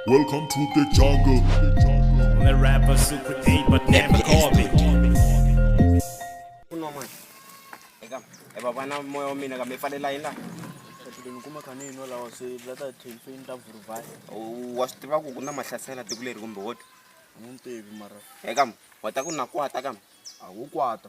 Welcome to the jungle. I'm a rapper, super eight, but never call me. kuno mwana eka e baba na moya wa mina kambe i falela yini laha Hlelo kuma kani ino lawa se la ta tension ta vuruvhasi U- wa swi tiva ku ku na mahlasela tiko leri kumbe woto a ni tivi mara eka wa ta ku na kwata kambe a wu kwata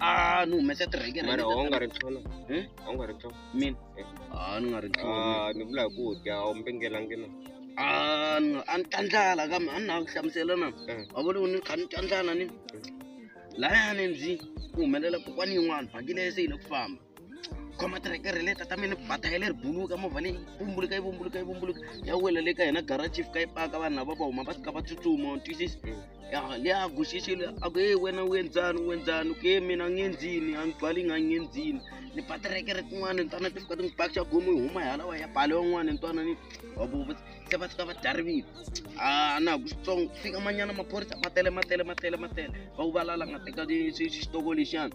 a ni humesa tirhekere mara a wu nga ri tlhona Hmm? a wu nga ri tlhona mina Eh. a ni nga ri tlhoni Ah, ni vula hi ku dya a wu mbengelangi na a ni nga- a ni tandlala kambe a ni na ku hlamusela na Eh. wa vona ku ni kha ni tandlala ni layani ndzi ku humelela kokwani yin'wana vhakile se yi le ku famba khoma tirekere leta ta mina bata ya leri buluka movha leyi vumbuluka yi vumbuluka yi vumbuluka ya wela le ka hina garachi fika yi paka vanhu lava va huma va fika va tsutsuma twisisi le a guxixile a ku e wena u endzani u endzani ke mina a ngenzini a ni gwali nga ngenzini ni ba tirekere tin'wana ni twana ti fika ti n'wi paxa gomo yi huma yalawa ya bale wan'wana ni twana ni wabo se va fika va darivile a na ha ku switsongo fika manyana maphorisa ma tele ma tele ma tele ma tele va ku valala nga teka xitoko lexiyani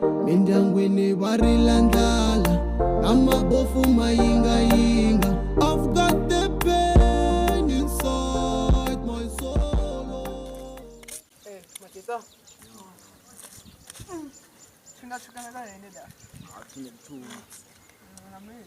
mindyangwini va rila ndlala na mabofu ma yingayinga I've got the pain inside my soul Eh, Matita. Tuna tukana na nene da. Hatuna mtu. Na mimi.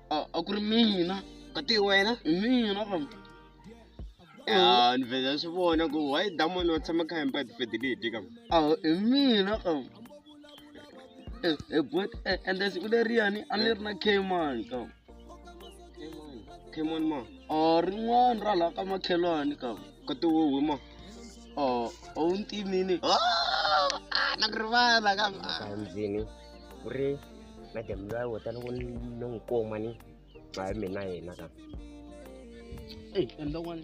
a a ku ri mina kati hi wena hi mina fam a ni vhela swi vona ku why damon wa tshama kha hempa tifedile hi tika a hi mina fam ebot ende siku leriyani a ni ri na kman kam kman ma a rin'wana ra laha ka makhelwani kam kati wo hwi ma a a wu ntimini na ku rivala kam kandzini ku ri madam loyi a wota loko ni n'wi kuma ni a hi mina yena ka eyi endla one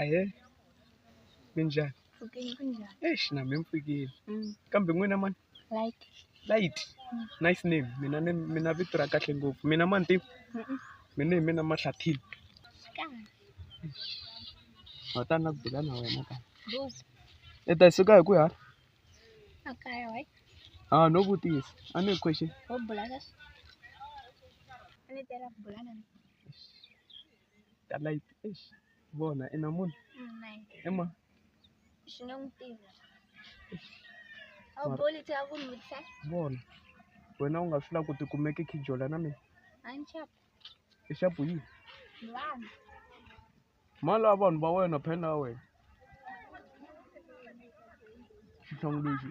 ahe minjhani eish na mi mpfikile kambe n'wina mani light nice name mina ni mina vito ra kahle ngopfu mina ma ni tiva mina hi mina mahlathini wa ta na ku bula na wena ka i ta suka hi ku ya ha no vutisa a ni hi question ka light eish vona i na munhu i ma xi nge n'wi tivi a wu boli ti a ku n'wi vutisa vona wena u nga swi lava ku tikumeke khijola na mina a ni chapa i xapu yini vanhu mali ya vanhu va wena phela ya wena xihlangu lexi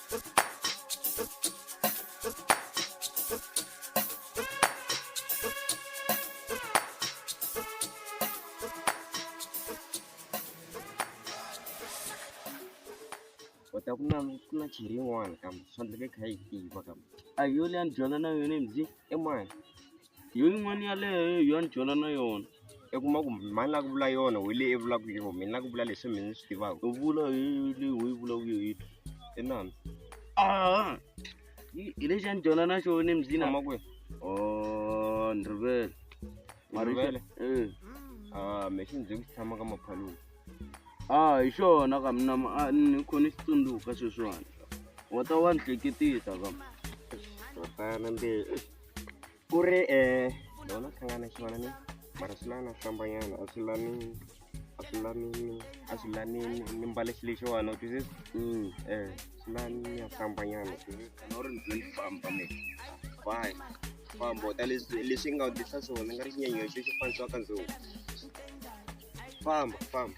kota ku na ku na chiri yin'wana kambe swi faneleke kha yi tiva kambe a yona ya ni dyondza na yona mzi emani yo yin'wana yaleyo yo ni byela na yona i kuma ku mhani la ku vula yona hi leyi i vulaka yona mina la ku vula leswi mina ni swi tivaka u vula hi leyi u yi vulaka yo yi i nani ah hi lexi a ni dyona na xona embyini ama kwihi o oh, ni rivele marivele e eh. ah me xi ndzi ku tshama ka maphaluni ah hi xona ka mina ah, ni khona xi tsundzuka sweswiwani wa ta wa ni hleketisa ka ro fana mbe ku ri um lona hlangana xivana ni mara swi lana hlambanyana a swi lani a swi lanini a swi lani ni mbale xi lexiwani u twisisa um swi lani ya hlambanyana twisisa u ri ndzi ni famba ni fine famba u ta leswi leswi nga u tisa swona ni nga ri xinyenyexo xi fanisiwaka ndzou famba famba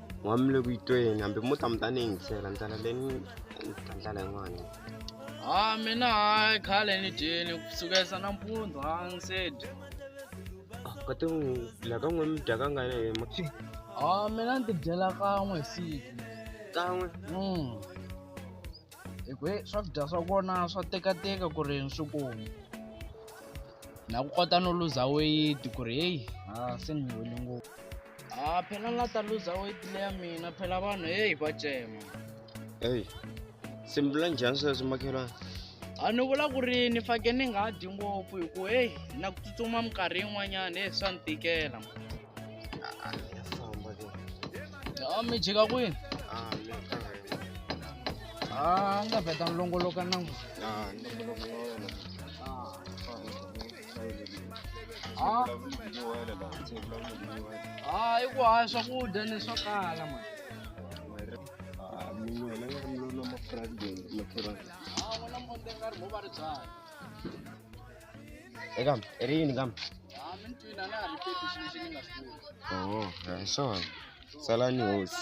n'wami le ku yi tweni hambi mo ta mi ta ni yingisela ndlela leyi ni ta ndlela yin'wana ha mina hayi khale ni dyeni ku sukesa nampundzu ha ni se dya kati la ka n'we mi dya ka ngani hi ma ha mina ni tidyela kan'we hi siku kan'we mm hi ku he swakudya swa kona swa tekateka ku ri ni swi kuma na ku kota no luza weight ku ri heyi ha se ni wele ngopfu ha phela ni la ta luza weight leya mina phela vanhu heyi va cema eyi se mi vula njhani sweswo makhelwana a ni vula ku ri ni fake ni nga dyi ngopfu hi ku heyi na ku tsutsuma minkarhi yin'wanyana heyi swa ni tikela famba ke a mi jika kwini a mi a ni ta vheta ni longoloka nangu a ni loko na wena Ah. Ah, i ku haya swakudya ni swo kala mani Eka, ri yini ka mi? Oh, hi swona. Salani hosi.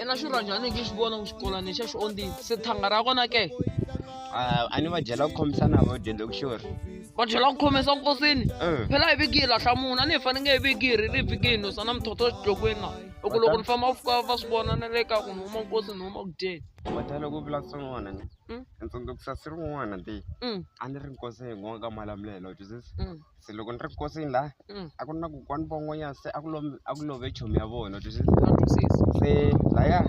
ena swi rhwa njhani nge xi vona ku xikolani xa xi ondini se thanga ra kona ke Ah, a ni va byela ku khomisana vo dyondza ku xori va byela ku khomesa nkosini Eh. phela hi viki yi lahla munhu a ni hi fane nge hi viki hi ri ri viki hi nusa na muthotho exidlokweni na hi ku loko ni famba fika va swi vona na le ka ku ni huma nkosi ni huma ku dyeni mata loko u vula ku swin'wana ni Mm. ni tsundzukusa si rin'wana ti Mm, a ni ri nkosi hi n'waka malamulelo joseph mm. se loko ni ri nkosini laha mm. a ku ri na kokwani von'wanyana se a ku lo a ku love chomi ya vona twisisa se laya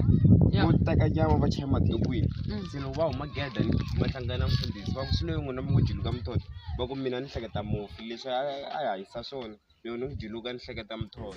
vo teka nyama va chaya madukwini mm. se loko va huma geda ni va hlangana mfundhisi va ku swi loyi n'wina mi ku juluka muthoto va ku mina ni hleketa mufi leswi a hi hanyisa swona loko ni ku juluka ni hleketa muthoto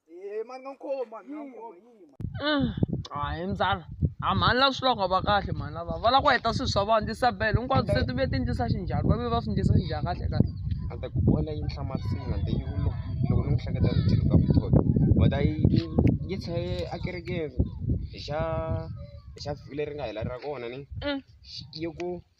Eh, mani nga nkhomi mani nga nkhomi mm. hayi mzala a mhani lava swi loko va kahle mhani lava va lava ku heta swilo swa vona tisabele hinkwabyo se ti ve ti ndlisa xinjhani va ve va swi ndlisa xinjhani kahle kahle a ta ku vona yi nhlamarisini a ta yi loko loko ni n'wi hleketa ni tilo ka vutholo va ta yi yi tshaye a kerekeni hi xa hi xa vhiki leri nga hela ra kona ni mm. yi ku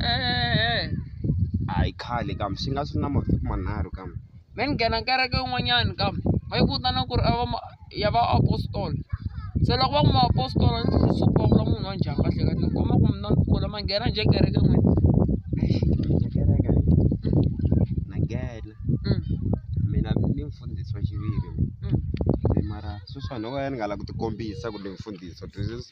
Eh, hayi khale kam swi nga swi na mavhiki manharhu kam me ni nghena kereke yin'wanyani kam va yi vitana ku ri a va ma- ya va apostolo se loko va ku ma apostolo ni swi swi komba munhu wa njhani kahle kahle ni komba ku mina ni kula ma nghena njhe kereke n'wina Ndzi kereke na nghena Mm, mina ni mfundhisi wa xiviri mm. se mara sweswiwani wo ka ni nga lavi ku tikombisa ku ni mfundhisi wa this is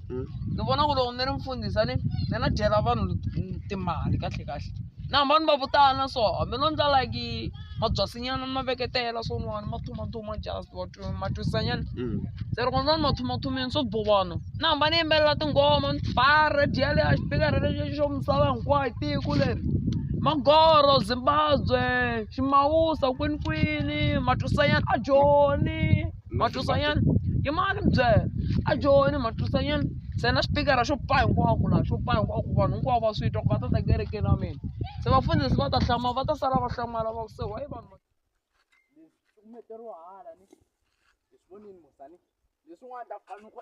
hmm? ni vona ku loko ni ri mfundhisa ni ni na dyela vanhu timali kahle kahle na hamba ni va vutana so hambi no ndla like mabyasinyana ni ma veketela swo niwani ma thumathuma just matwisanyana hmm. se loko ndza ni mathumathumeni swo bovana na hamba ni yimbelela tinghoma ni ba radio leyi a xipika radio lexi xo misava hinkwayo tiko leri magoro zimbabwe ximawusa kwinikwini matwisanyana a joni Matusayan yi mani byela a joni Matusayan se na xipikara xo pa hinkwako laha xo pa hinkwako vanhu hinkwavo va swi twa ku va ta ta kerekeni ya mina se vafundhisi va ta hlamala va ta sala va hlamala va ku se wayi vanhu va hala ni leswin'wana ta fanele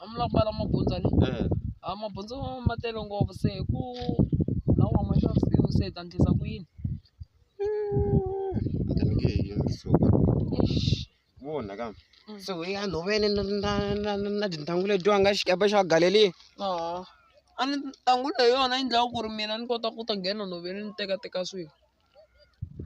a mi la ku mbala mabundzu ni eh. a mabundzu ma tele ngopfu se hi ku laha u huma xava swilo se hi ta ndlisa ku yini vona ka mm. se u ya nhoveni na tintangu letiwa nga xikepe xa galeli a ni tangu leyi yona yi ndlaku ku ri mina ni kota ku ta nghena nhoveni ni tekateka swilo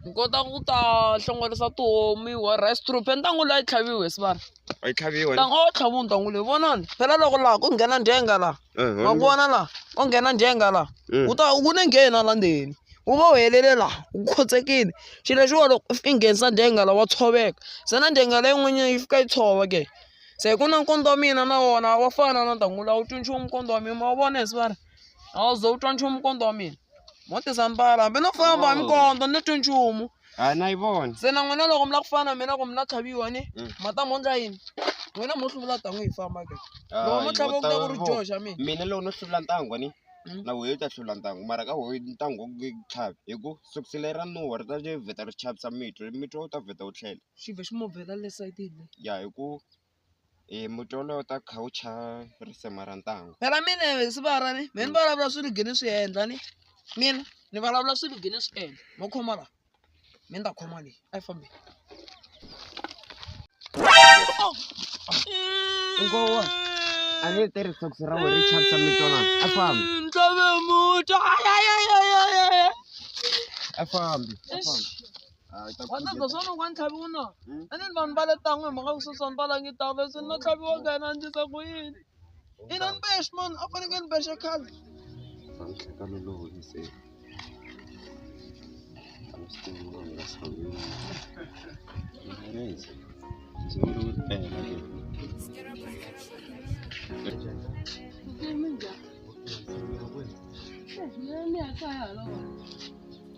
Ni kota ku ta hlongorisa tihomu yi wa rice troop ntangu la yi tlhaviwi hi sibara a yi tlhaviwa ntangu a wu tlhaviwi ntangu leyi vonani phela loko laha ku nghena ndyenga laha ma ku vona laha ko nghena ndyenga laha wu ta wu ne nghen hala ndzeni wu va wu helele laha wu khotsekile xi lexiwa loko i nghenisa ndyenga la wa tshoveka se na ndyenga leyi n'wanyana yi fika yi tshova ke se ku na nkondzo wa mina na wona wa fana na ntangu la wu twi nchumu nkondzo wa mina ma wu vona hi sibara a wu ze wu twa nchumu nkondzo wa mina. Mote Zambala, hambi no famba mi kondza ni twi nchumu. A na yi vona. Se na n'wina loko mi la ku fana mina ku mi na tlhaviwa ni mm. ma ta mondla yini? N'wina mo hluvula tan'wi hi famba ke. Loko mo tlhava ku ta ku ri dyoho xa mina. Mina loko no hluvula ntangwa ni mm. na wehe u ta hlula ntangwa mara ka wehe ntangwa ku tlhavi hi ku sukusela ra nuwa ri ta vheta ri chavisa mitwa mitwa u ta vheta u tlhela xi vhe xi mo vhela le sayitini ya hi ku Eh, mutola u ta kha u chha risema ra ntangu phela mina swi vara ni mina ni vulavula swi ligini swi endla ni mina ni vulavula swi ligini swi endla mo khoma la mi ni ta khoma leyi a yi fambi ngowa a ni tirhi sokisi ra wena ri chavisa mitona a fambi ntlove muta a fambi a fambi Ah, ita ku Wena dlhokisa no kwani tlhaviwa no. Hmm? A ni ni vanhu va le tan'we hi mhaka ku Susan va langi tawula se no tlhaviwa ka yena ndzi ta ku yini. Ina ni bexe mani a faneke ni bexe khale. Sanhleka ni lo hoyise. I'm still not in the same room. Guys, it's a little bit bad. Mimi nja. Eh, mimi akaya lo.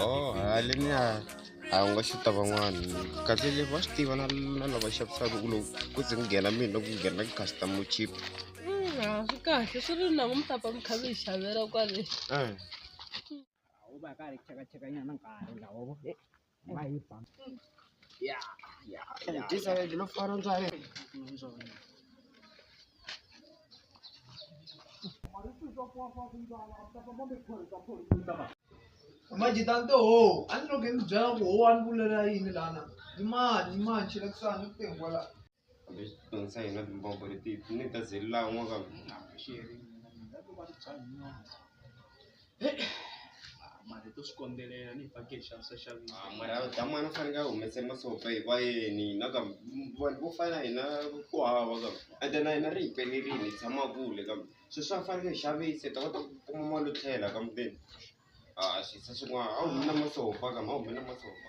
oh haleni a a wu nga xuta van'wana kahle le va swi tiva na na lava xavisaka ku loko ku ze ku nghena mina ku nghena customer chip Mm, a swi kahle swi ri na ku mi ta pfa mi kha mi hi xavela kwale Eh. u va ka ri chekacheka nyana nkarhi lawo vo e va yi ba ya ya ya Ndizayeli lo fana njani? Manje tante ho, a ni loko hi mi byela ku ho a ni vulela yini lana. Yimani, yimani, chela kusani, ni ku tengwa la. Leswi na timbombo leti ni ta zilila n'wa ka mali to swi kondzelela ni fake xanisa xa mara damani u fanele a humese masopa hi vayeni na ka vanhu vo fana na hina ku hava ka ende na hina ri hi pelerile hi tshama kule ka sweswi swa fanele hi xavise hi ta kota ku kuma mali yo tlhela ka muteni a swi se swin'wana a wu humi na masopa ka ma hume na masopa.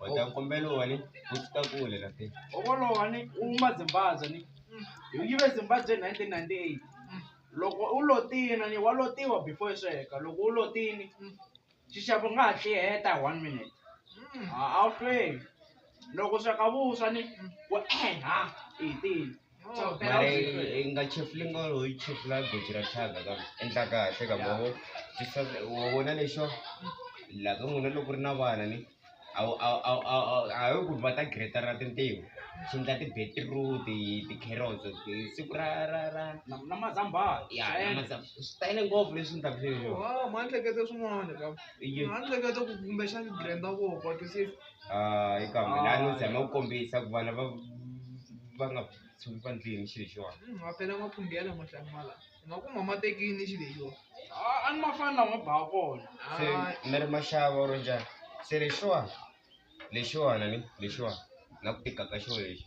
wata kombela wani u ta kule la te ovolo wani u ma zimbabwe ni hi yive zimbabwe 1998 loko u lo tina ni wa lo tiwa before sweka loko u lo tini xixevo nga ha tliheta hi one minute a wu hlweli loko sweka vuswa ni ku eha i tini mara yi nga chefuli nga ho yi chefula goji ra thyaka ka endla kahle ka mavo wa vona lexo la ka n'wina loko ri na vana ni a wu a wu ku va ta greta ra tintiho swi endla ti-beetroot ti-carrots siku ra ra ra na na mazambhala ya swi tele ngopfu leswi ni ta ku sweswo ma ni hlekete swin'wana ka ni hleketa ku kumbexana ti-blender voko ti se Ah, eka mina a no zama ku kombisa ku vana va va nga tshuki va ndlini xilo xiwani Hmm, ma phela ma phungela matlanga mala nga ku mama tekini xilo yo a ni ma fani lama ba kona se mi ri maxava or njhani se lexiwani lexiwani ni lexiwani na ku tika ka xilo lexi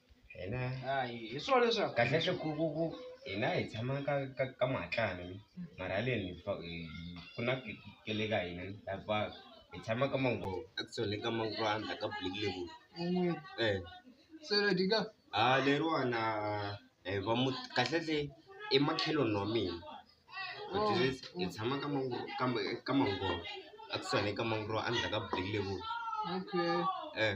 hina hayi hi swona leswaku kahle kahle ku ku ku hina hi tshama ka ka ka mahatlana ni mara haleni hi fa- hi- hi- ku na ke- ke le ka hina ni la ba hi tshama ka mango actually ka mango andla ka black level un'we eh se lo dika ha leriwana hi va mu kahle kahle i makheloni wa mina But Oh, this- hi oh. tshama ka mango ka ma- ka mango actually ka mango andla ka black level okay eh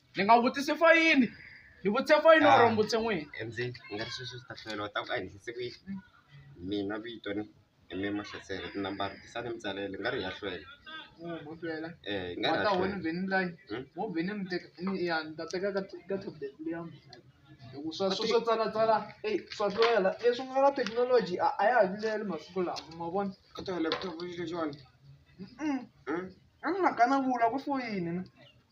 ni nga vutisi fo yini ni vutise fo yini or mbutse n'wini ndzi nga ri sweswi swi ta hlwela u ta ku a hi ndlise ku yini mina vito ni mi mahlasela tinambara tisani mi tsalele nga ri ya hlwela mutwela eh nga ri ya wata wena hlwela vheni layi Hmm? wo vheni mi teka ni ya ni ta teka ka ka tablet leya mina loko swa swa swo tsala tsala ey swa hlwela leswi nga na technology a a ya ha vileli masiku lawa ma vona ka tona laptop yi xona Mm-mm. a ni nga kana vula ku foyini na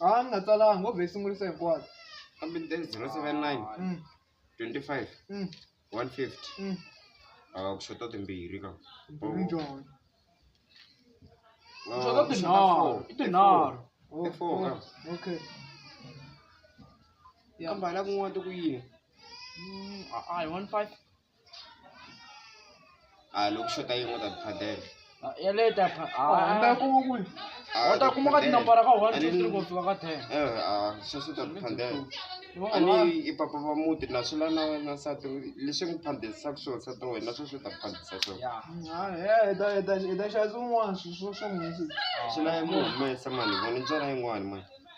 Ah, ni nga tsalanga ngo vhe sungurisa hinkwayo. kambe ni teke 079 Mm, 25 mm, 150 mm. a ku xota timbirhi ka Mbhulu njhani? Ah, Xota ku xota tinharhu, four. i tinharhu. Oh, I four, oh, ka. Okay. Yeah. kambe hala kun'wana ti ku yini Mm, a- a hi one five. a loko xota yin'we ta phadela ya leyi ta pha hambi ya kuma kule u ta kuma ka tinambara ka one two three ku fika ka ten sweswo ta phadela ani i papa va muti na swi la na wena nsati leswi n'wi phandelisaka swona nsati wa wena sweswo ta phandisa swonaitaswin'wana swi la yi mu humesa mani vona ntswala yin'wani mani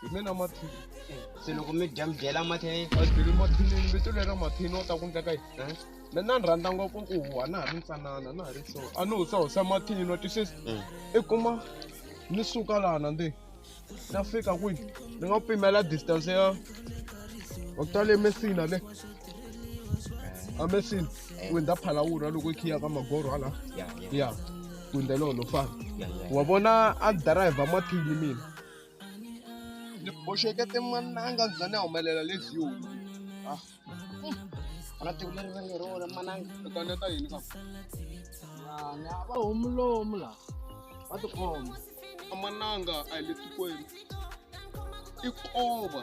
hi mina mathini se loko mi dya mi dyela mathini adyeli mathini vito lera mathini wa ta ku ndleka yini na na ni rhandza ngopfu ku huwa na ha ri ntsanana na ha ri so a ni husahusa mathini wa twisisa mm. i kuma ni suka lana ndi na fika kwini ni nga pimela distance ya wa ku tale mesina le eh. a mesina eh. ku ndza phalawura loko i khiya ka magoro hala ya kwindzelolo fana wa vona a driver mathini mina ni boxekete mananga ni za ni humelela le view ah. ana tiko leri va nge ri wona mananga u ta neta yini ka vana va homu lomu la va tikhoma a mananga a hi le tikweni i kova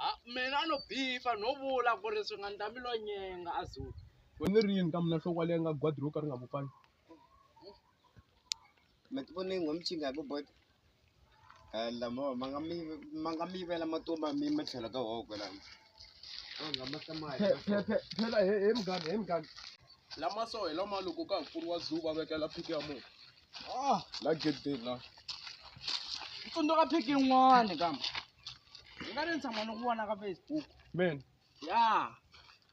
Ha mina no beeper no vula ku ri swi nga ndla mi lo nyenga a Zulu. Wena ni ri yini ka mina nhloko leyi nga gwadi ro ka ri nga vupfani. Ma ti vona ingo mi cinca hi ku bota lamo ma nga mi ma nga mi yivela matomba mi ma tlhelo ka woho kwelano a nga ma hlamali phela he he muganga he muganga lama so hi lama loko ka ha pfuriwa zoo va vekela phiki ya munhu la gedeni la tsundzuka phiki yin'wani kambe ni nga ri ni tshama ni ku vona ka facebook men ya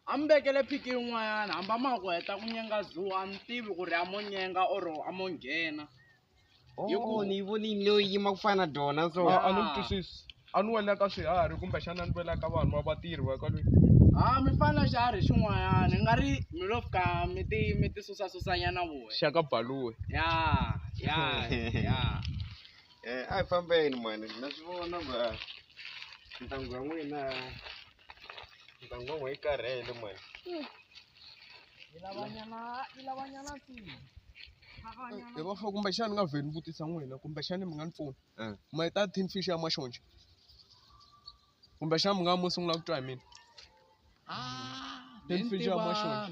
a mi vekele phiki yin'wanyana hamba ma ku heta ku nyenga zoo a ni tivi ku ri a mo nyenga or a mo nghena Hi ku- oh ni yi vonile yo yima ku fana na dona so a a ni Ah. n'wi twisisi a ni wela ka swiharhi kumbexana a ni wela ka vanhu va vatirhi va kwale ha mi fana na xiharhi xin'wanyana ni nga ri mi lo fika mi ti mi ti susasusanyana voya xaka baluwe ya ya ya Eh, a hi fambeni mani na swi vona ku a ntanghu ya n'wina ntanghu wa n'we yi karhele mani hi va fo kumbexana ni nga vheli ni vutisa n'wina kumbexana mi nga ni pfuna Eh. ma ta tin fish ya maxonja kumbexana mi nga mo sungula ku twa hi mina tin fish ya maxonja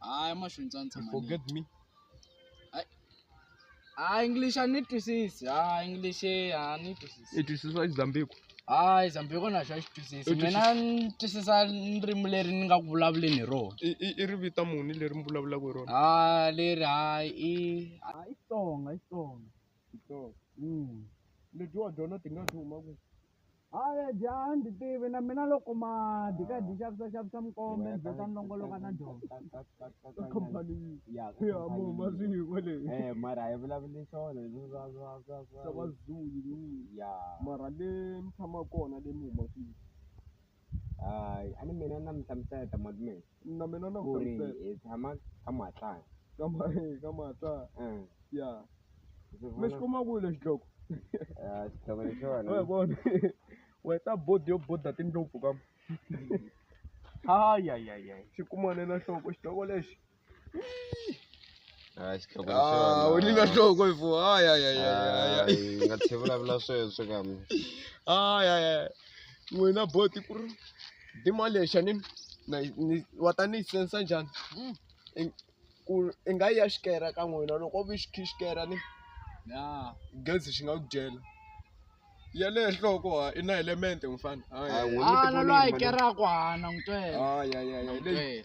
hayi mahlweni ndza ni tshama forget me hayi english a ni twisisi hayi english a ni twisisi i twisisa izambiku hayi zambiko na xo a xi twisisi mina ni twisisa ndzimi leri ni nga ku vulavuleni hi rona i i- i ri vita muni leri mi vulavulaka hi rona ha leri hayi i hayi xitsonga xitsonga Mm. leti wa dyona ti nga ti huma ku Haya jaha ndzi tivi na mina loko ma dyi ka dyi xavisa xavisa mikombe ndzi ta ni longoloka na dyondzo khampani ya mo maziko leyi eh mara hi vulavule swona leswi swa swa swa swa vazulu ya mara le ni tshama kona le ni huma kwihi hayi a ni mina na mi hlamusela ta malume Na mina na ku ri hi tshama ka Matlala ka ka Matlala ya mi xi kuma kwihi lexi dloko xihlovo lexiwani wa hi vona we ta bodo yo boda tindlopfu ka hayihayihayi xi kuma ni na nhloko xihlovo lexi a xi tlhoko a wu ni na nhloko hi fuwa hayihayihayi nga tlhe vulavula sweswo ka mi hayihayi n'wina boti ku ri Demolition ni na ni wa ta ni yi sense njhani i ku i nga yi ya xikere ka n'wina loko u xi xikere ni gezi xi nga ku dyela ya le nhloko ha i na element mufana hayi a na loyi a yi keraka hana n'wi twela hayi hayi hayi leyi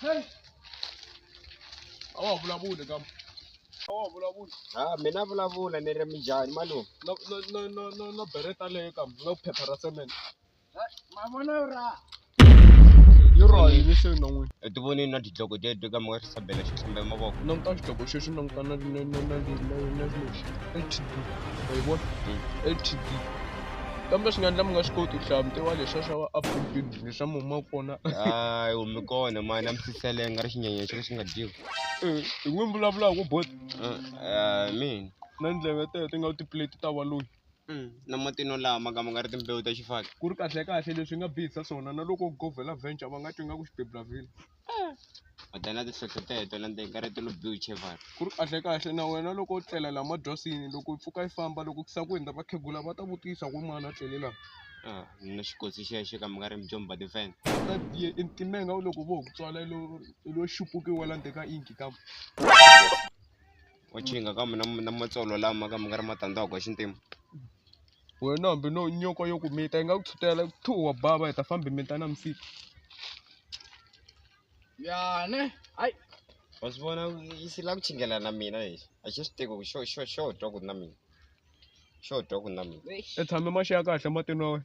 Hey. Awa vulavuli ka. Awa vulavuli. Ah, mina vulavula ni ri mijani malume. No no no no no bereta leyo ka no phepha ra cement. yoroi lexi ri non'wini u ti vonini na tidloko teto ka maka xisabela xi hlamba mavoko languta xidloko xexi languta na na na na na lexi ltd ma yi vona ltd kambe swi nga endla mi nga swi koti ku hlaya mitiwa lexa xa va apulbin lexa muma kona hayi humi kona mani a mi siselenga ri xinyenyexi lexi nga dyiwi hi n'wi vulavulaka ku bot mina na ndleve teto ti nga tiplate ta va loyi Mm, na matino lawa ma ka ma nga ri timbewu ta xifaki ku ri kahlekahle leswi nga bihisa swona na loko govela venture va nga twi nga ku xibeblavile ota na tihlohloteto na ndzeni ka rito lo biwu chevari ku ri kahlekahle na wena loko u tlela laha madrasini loko yi pfuka yi famba loko ku sa ku hundza vakhegula va ta vutisa ku mani a tlele laha Ah, ni na xikotsi xeya xo ka mi nga ri mijomba tifense ta biye entimenga u loko vo ku tswala lo lo xupukiwa la ndzeni ka inki kambe wa chinga kambe na na matsolo lama kambe nga ri matandza wa xintima wena hambi no nyoka yo kumita yi nga ku tshutela thu wa bava hi ta fambi mita na misika yane hayi wa swi vona yi si la ku chingela na mina lexi a xi swi tiko ku xo xo xo twa ku na mina xo twa ku na mina i tshame maxi ya kahle matini wa wena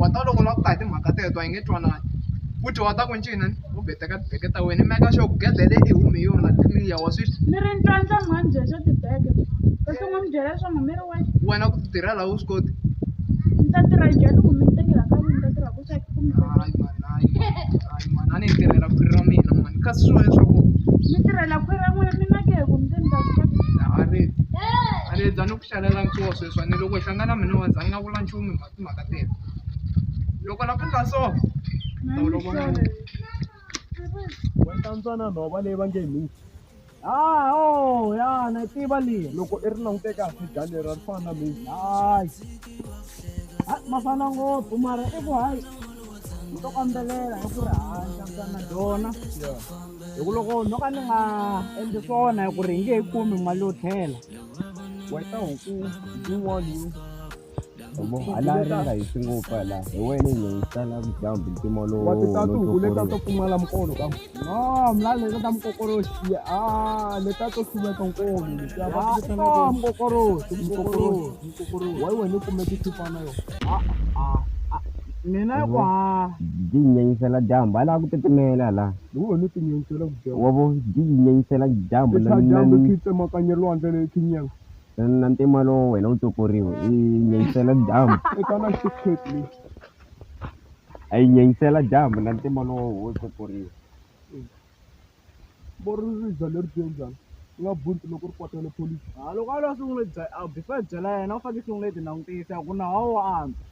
wa ta loko lava ku ta hi timhaka teto a yi nge twanani futhi wa ta ku ncini u beteka tibeke ta wena i meka xo ku gedele i hume yona clear wa swi ni ri ntlwantlha mhani bya xa tibeke kasi n'wi mi byela leswaku mi ri wena ku ti tirhela a wu swi koti Ndzi ta tirha njhani ku mi ni tekela ka n'wina ta tirha ku swa ku mi tekela. hayi mani hayi mani hayi mani a ni tirhela ku ri ra mina mani kasi swi wena leswaku Mi tirhela khwiri ra n'wina mina ke ku mi ta ni ta ku a ri a ri za ni ku xalela nkosi sweswi ni loko hi hlangana mina wa za ni nga vula nchumu hi mhaka timhaka tena loko la ku nga so Mhani sorry. Wena ntsanana nhova leyi va nge hi mix. Ah, oh, ya na tiva leyi loko i ri langute kahle dlani leri ri fana na mezi hayi ah, ma fana ngopfu mara i ku hayi ni to kambelela hi ku ri handla mtana dyona hi ku loko no ka ni nga endli swona hi ku ri hi nge yi kumi mali yo tlhela wena huku yin'wana Yabo, a la ri nga hisi ngopfu a la hi wena ni hi sala dyambu mpimo lowu wa titatu nguvu leta to pfumala mukolo ka no mla leta ta mukokoroxi ya a leta to siveka nkolo leta va titana ko mukokoroxi mukokoroxi mukokoroxi wa wena kumbe tithipana yo a a mina yi kwa di nyenyisela dyambu a la ku titimela la hi wena ti nyenyisela ku dyambu wa vo di nyenyisela dyambu na dyambu ki tsemakanye lwandle le kinyela na ntima lowu wena wu tswukuriwe i nyanyisela dyambu i ka na shortcut leyi a yi nyanyisela dyambu na ntima lowu wo tswukuriwe vo ri ri za leri byo njhani u nga bunti loko ri kwatele pholisi ha loko a lo sungule before byela yena u fanekele sungule ti langutisa ku nawu wa antswa.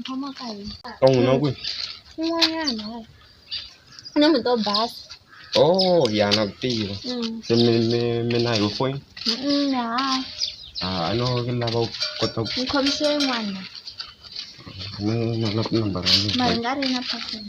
Mphamo ka hina. Ka n'wina kwihi? Kun'wanyana. Ku na muti wo basa. Oh ya na ku tiva. Mm. Se mi mi mi na yo foyini? Mm, ha. Ah, a no ke lava ku kota ku Ni khomise yin'wana. ni na na tinambara ya Mara n'wina. nga ri na phone.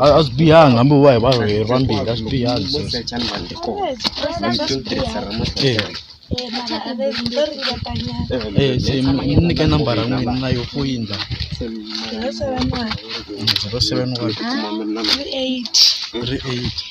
a swi bihanga hambi va hi varheri vambirhi a swi bihanga se mi nyike nambara n'wina na yo foyini la zero seven one three eight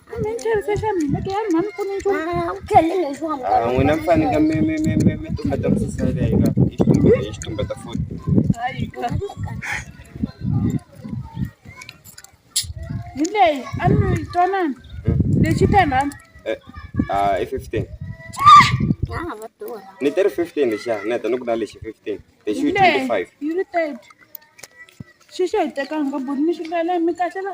n'wina mi faneke mi mi mi mi mi tumbeta misisele yi nga yi xitumbeta yi xitumbeta futhi hi leyi a ni yi twanana lexi ten rand Ah, i 15. Ni teri 15 lexiya, ni heta ni ku na lexi 15. Lexi yi 25. yi ri thirty xi xi hi tekanga buni mi xi vela mi kahle la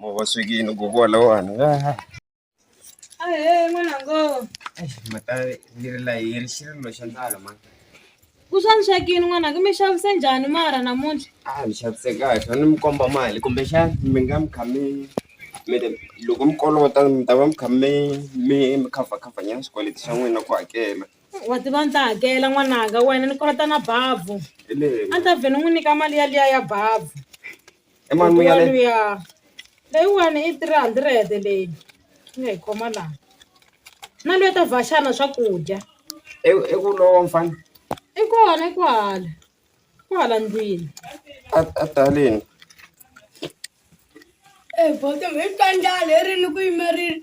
Mawaswekini gogo lawani. Ah, eh, mwanangu. Mata leri la yi ri xirilo xa ndlala ma. Ku xanisekini n'wananga mi xavise njhani mara namuntlha? Ah, ni xavise kahle, a ni mi komba mali kumbe xana mi nga mi kha mi mi ri loko mi kolota mi ta va mi kha mi mi mi cover cover nyana swikweleti swa n'wina ku hakela. Wa tiva ni ta hakela n'wananga wena ni kolota na bavhu. Hi leyi A ni ta vhe ni n'wi nyika mali yaliya ya bavhu. I mani mi nga le? luya leyiwani i three hundred leyi ni nga yi khoma laha na luya ta vhaxana swakudya I I ku lowa mfana i kona i kwahala kwahala ndlwini a a ta haleni. Ee boto hi ta njhani herini ku yimerile.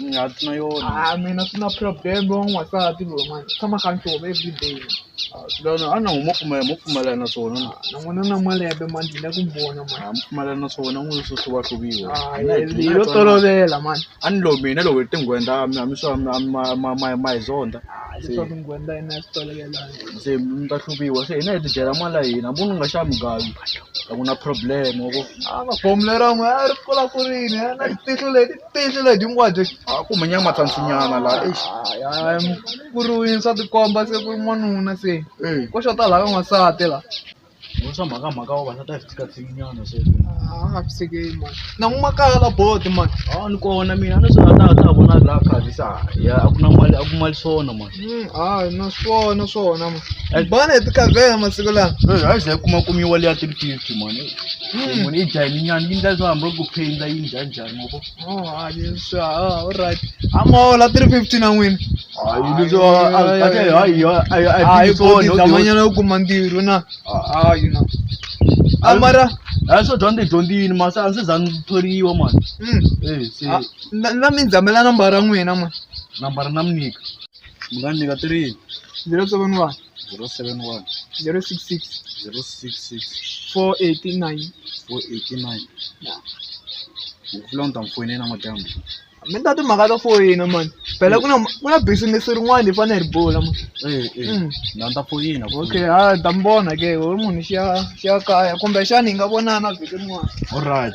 ni nga ri na yona Ah, mina swi na problem wa n'wansati loyi mani tshama kha ni tova everyday Ah, swi lava na a na huma pfumela mo pfumela na swona na na n'wina na malembe mani ndzi le ku mi vona mani ha mi pfumela na swona n'wina swo hluva hluviwa Ah, Mina hi- hi- hi hi- lo hi- tolovela mani a ni lo mina loko hi tinghwenda a mi a mi swa mi a mi- ma- ma- ma- ma hi zonda Ah, leswaku ngwenda yina ya swi tolovelanga se mi ta hluviwa se hina hi ti dyela mali ya hina munhu u nga xava mugavi a ku na problem wa ku a va bomulera n'we a ri kula kurini a na tihlo leti tiyindlela leti hinkwato a ku humanyanga matlhantlhinyana laha eish ku ri wansati komba se ku ri n'wanuna se ko xota laha ka n'wansati laha Vo swa mhaka mhaka vavasati a hi tikatsikinyana sweswo a nga fisekeli mani na n'wi makaya la bodo mani a ni kona mina a ni swi nga ta ta vona laha khavisa ya a ku na mali a ku mali swona mani hayi na swona swona ma bana hi tikavhela masiku lawa a yi ze yi kuma kumiwa liya three fifty mani munhu yi dya hi minyana yi ndla leswo hambi ku phenda yi njhani njhani. amaola 350 na n'wina hayi boti dlamanyana u kuma ntirho na hayi na amara hayi swo dyondza hi dyondzini masi a ndzi za ni thoriwa mani mm, Eh, se a- na- na mi ndzamela nambara ya n'wina mani nambara na mi nyika mi nga ni nyika tirini ndzi la tsoveni vanhu zero seven one zero six six zero six six four eighty nine four eighty nine ndzi ta mi foyinela madyambu mi ta timhaka to foyina mani phela ku na ku na business rin'wana hi fanele hi bula mani eh, eh. Mm. na ni ta foyina okay ha ta mi vona ke u ri munhu xiya xiya kaya kumbe xana hi nga vonana vhiki rin'wana alright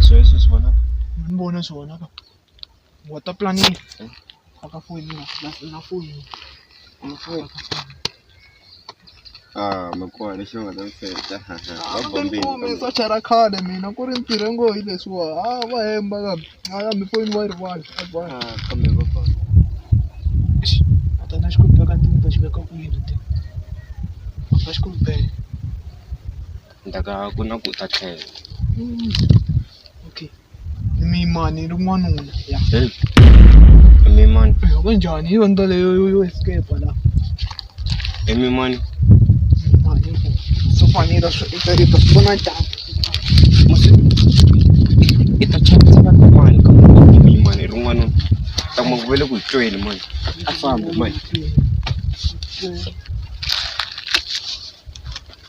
sweswo swi vonaka ni vona swi vonaka water planning a ka foyini na foyini na foyini Ah, makuwa lexi va nga ta mfeta bombeni socha ra khale mina ku ri ntirho ngo hi leswiwa a va hemba kambe a ya mi foyini wa yi rivala a va kambe va ba a ta na xikombelo ka ntirho ta xi veka kwihi ti a xikombelo ni ta ka ku na ku ta tlhela okay mimani ri n'wanuna ya mimani ku njhani yo nto leyo yo escape la i mimani mimani so fanele swi i ta i ta vona njhani i ta chavisa ka mani ka mimani ri n'wanuna ta ma ku vele ku hi tweni mani a fambi mani